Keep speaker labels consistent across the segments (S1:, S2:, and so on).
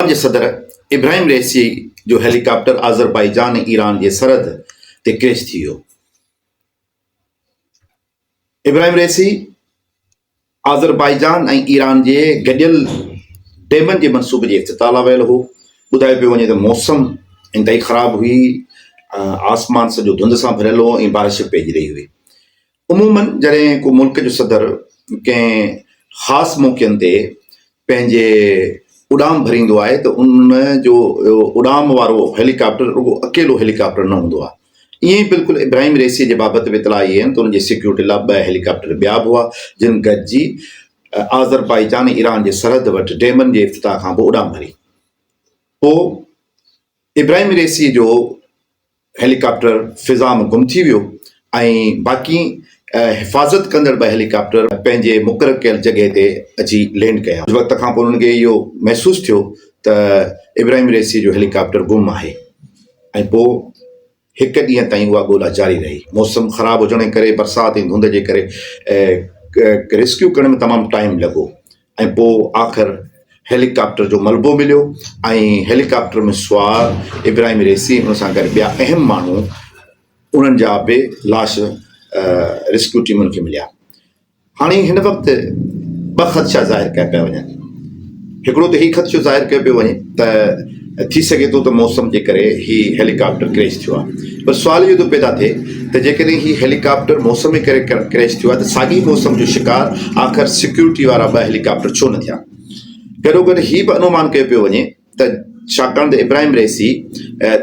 S1: Iran جي صدر Ebrahim Raisi جو هيلي ڪاپٽر آذربائيجان ۽ ايران جي سرحد تي ڪريش ٿي ويو. ابراهيم رئيسي آذربائيجان ۽ ايران جي گڏيل ڊيمن جي منصوبي جي افتتاح لاء ويل هو. ٻڌايو پيو وڃي ته موسم انتهائي خراب هئي، آسمان سڄو ڌنڌ سان ڀريل هو ۽ بارش به پئجي رهي هئي. عموماً جڏهن ڪو ملڪ جو صدر ڪنهن خاص موقعن تي پنهنجي اڏام ڀريندو آهي ته ان جو اڏام وارو هيلي ڪاپٽر رڳو اڪيلو هيلي ڪاپٽر نه هوندو آهي. ائين ئي بلڪل ابراهيم رئيسيء جي بابت به اطلاع اهي آهن ته ان جي سيڪيورٽي لاء ٻه هيلي ڪاپٽر ٻيا به هئا جن گڏجي آذربائيجان ۽ ايران جي سرحد وٽ ڊيمن جي افتتاح کانپوء اڏام ڀري. پوء ابراهيم رئيسيء جو هيليڪاپٽر فضا ۾ گم ٿي ويو ۽ باقي حفاظت ڪندڙ ٻه هيليڪاپٽر پنهنجي مقرر ڪيل جڳهه تي اچي لينڊ ڪيا. ڪجهه وقت کانپوء انهن کي اهو محسوس ٿيو ته ابراهيم رئيسيء جو هيليڪاپٽر گم آهي ۽ پوء هڪ ڏينهن تائين اها ڳولا جاري رهي. موسم خراب هجڻ جي ڪري برسات ۽ ڌنڌ جي ڪري ريسڪيو ڪرڻ ۾ تمام ٽائيم لڳو. ۽ پوء آخر هيليڪاپٽر جو ملبو مليو ۽ هيليڪاپٽر ۾ سوار ابراهيم ريسي ان سان گڏ ٻيا اهم ماڻهو انهن جا به لاش ريسڪيو ٽيمن کي مليا هاڻي هن وقت ٻه خدشا ظاهر ڪيا پيا وڃن هڪڙو ته هي خدشو ظاهر ڪيو پيو وڃي ته ٿي سگهي ٿو ته موسم جي ڪري هي هيليڪاپٽر ڪريش ٿيو آهي پر سوال اهو ٿو پيدا ٿئي ته جيڪڏهن هي هيليڪاپٽر موسم جي ڪري ڪريش ٿيو آهي ته ساڳي موسم جو شڪار آخر سيڪيورٽي وارا ٻه هيليڪاپٽر ڇو نه ٿيا گڏو گڏ هي به انومان ڪيو پيو وڃي ته ڇاڪاڻ ته ابراهيم رئيسي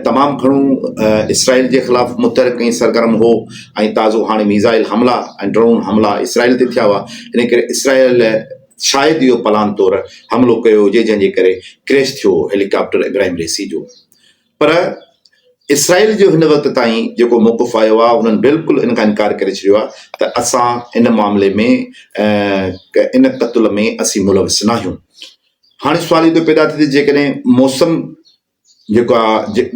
S1: تمام گهڻو اسرائيل جي خلاف متحرڪ ۽ سرگرم هو ۽ تازو هاڻي ميزائل حملا ۽ ڊرون حملا اسرائيل تي ٿيا هئا ان ڪري اسرائيل شايد اهو پلان طور حملو ڪيو هجي جنهن جي ڪري ڪريش ٿيو هو هيلي ڪاپٽر ابراهيم رئيسي جو پر اسرائيل جو هن وقت تائين جيڪو موقف آيو آهي انهن بلڪل ان کان انڪار ڪري ڇڏيو آهي ته اسان ان معاملي ۾ ان قتل ۾ اسين ملوث ناهيون هاڻي سوال اهو پيدا ٿي ته جيڪڏهن موسم جيڪا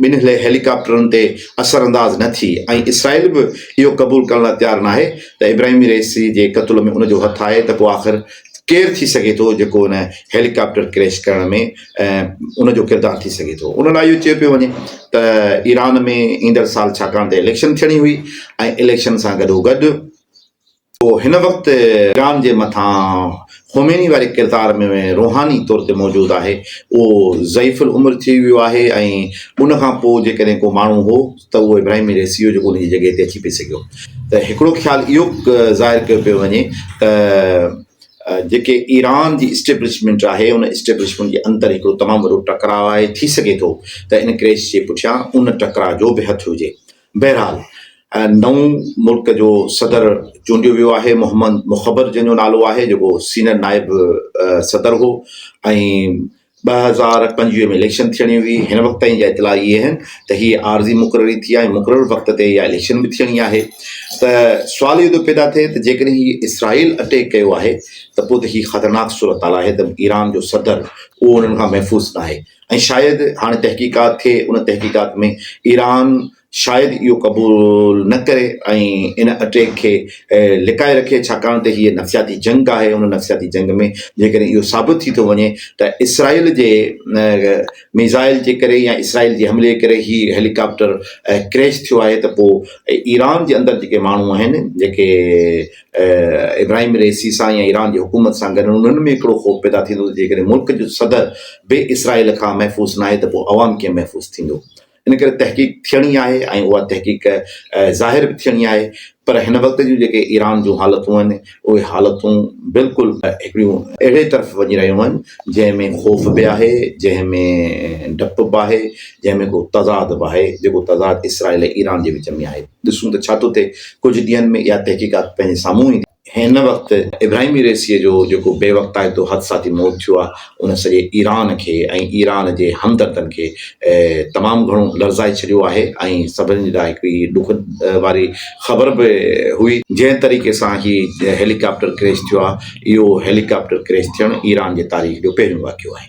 S1: ٻن هيلي ڪاپٽرن تي اثر انداز نه ٿي ۽ اسرائيل به اهو قبول ڪرڻ لاء تيار ناهي ته ابراهيمي رئيسي جي قتل ۾ ان جو هٿ آهي ته پوء آخر ڪير ٿي سگهي ٿو جيڪو ان هيلي ڪاپٽر ڪريش ڪرڻ ۾ ان جو ڪردار ٿي سگهي ٿو ان لاء اهو چيو پيو وڃي ته ايران ۾ ايندڙ سال ڇاڪاڻ ته اليڪشن ٿيڻي هئي ۽ اليڪشن سان گڏوگڏ اهو هن وقت ايران جي مٿان خوميني واري ڪردار ۾ روحاني طور تي موجود آهي، اهو ضعيف العمر ٿي ويو آهي ۽ ان کان پوء جيڪڏهن ڪو ماڻهو هو ته اهو ابراهيم رئيسي هو جيڪو ان جي جڳهه تي اچي پئي سگهيو ته هڪڙو خيال اهو ظاهر ڪيو پيو وڃي ته جيڪي ايران جي اسٽيبلشمينٽ آهي ان اسٽيبلشمينٽ جي اندر هڪڙو تمام وڏو ٽڪراء آهي ٿي سگهي ٿو ته ان ڪريش جي پٺيان ان ٽڪراء جو به هٿ هجي بهرحال نئون ملڪ جو صدر چونڊيو ويو آهي محمد مخبر جنهن جو نالو آهي جيڪو سينئر نائب صدر هو ۽ ٻه هزار پنجويهه ۾ اليڪشن ٿيڻي هئي هن وقت تائين جا اطلاع اهي آهن ته هي عارضي مقرري ٿي آهي مقرر وقت تي اها اليڪشن به ٿيڻي آهي ته سوال اهو ٿو پيدا ٿئي ته جيڪڏهن هي اسرائيل اٽيڪ ڪيو آهي ته پوء ته هي خطرناڪ صورتحال آهي ته ايران جو صدر اهو انهن کان محفوظ ناهي ۽ شايد هاڻي تحقيقات ٿئي، ان تحقيقات ۾ ايران شايد اهو قبول نه ڪري ۽ ان اٽيڪ کي لڪائي رکي ڇاڪاڻ ته هيء نفسياتي جنگ آهي، ان نفسياتي جنگ ۾ جيڪڏهن اهو ثابت ٿي ٿو وڃي ته اسرائيل جي ميزائل جي ڪري يا اسرائيل جي حملي جي ڪري هي هيليڪاپٽر ڪريش ٿيو آهي ته پوء ايران جي اندر جيڪي ماڻهو آهن جيڪي ابراهيم رئيسي سان يا ايران جي حڪومت سان گڏ انهن ۾ هڪڙو خوف پيدا ٿيندو ته جيڪڏهن ملڪ جو صدر به اسرائيل کان محفوظ ناهي ته پوء عوام ڪيئن محفوظ ٿيندو؟ ان ڪري تحقيق ٿيڻي آهي ۽ اها تحقيق ظاهر به ٿيڻي آهي پر هن وقت جون جيڪي ايران جون حالتون آهن اهي حالتون بلڪل هڪڙيون اهڙي طرف وڃي رهيون آهن جنهن ۾ خوف به آهي جنهن ۾ ڊپ به آهي جنهن ۾ ڪو تضاد به آهي، جيڪو تضاد اسرائيل ۽ ايران جي وچ ۾ آهي. ڏسون ته ڇا ٿو ٿئي، ڪجهه ڏينهن ۾ اها تحقيقات پنهنجي سامهون ايندي. هن وقت ابراهيمي ريسيء جو جيڪو بي وقتائتو حدساتي موت ٿيو آهي، ان سڄي ايران کي ۽ ايران جي همدردن کي تمام گهڻو لرزائي ڇڏيو آهي ۽ سڀني لاء هڪ هي ڏک واري خبر به هئي، جنهن طريقي سان هي هيليڪاپٽر ڪريش ٿيو آهي، اهو هيليڪاپٽر ڪريش ٿيڻ ايران جي تاريخ جو پهريون واقعو آهي.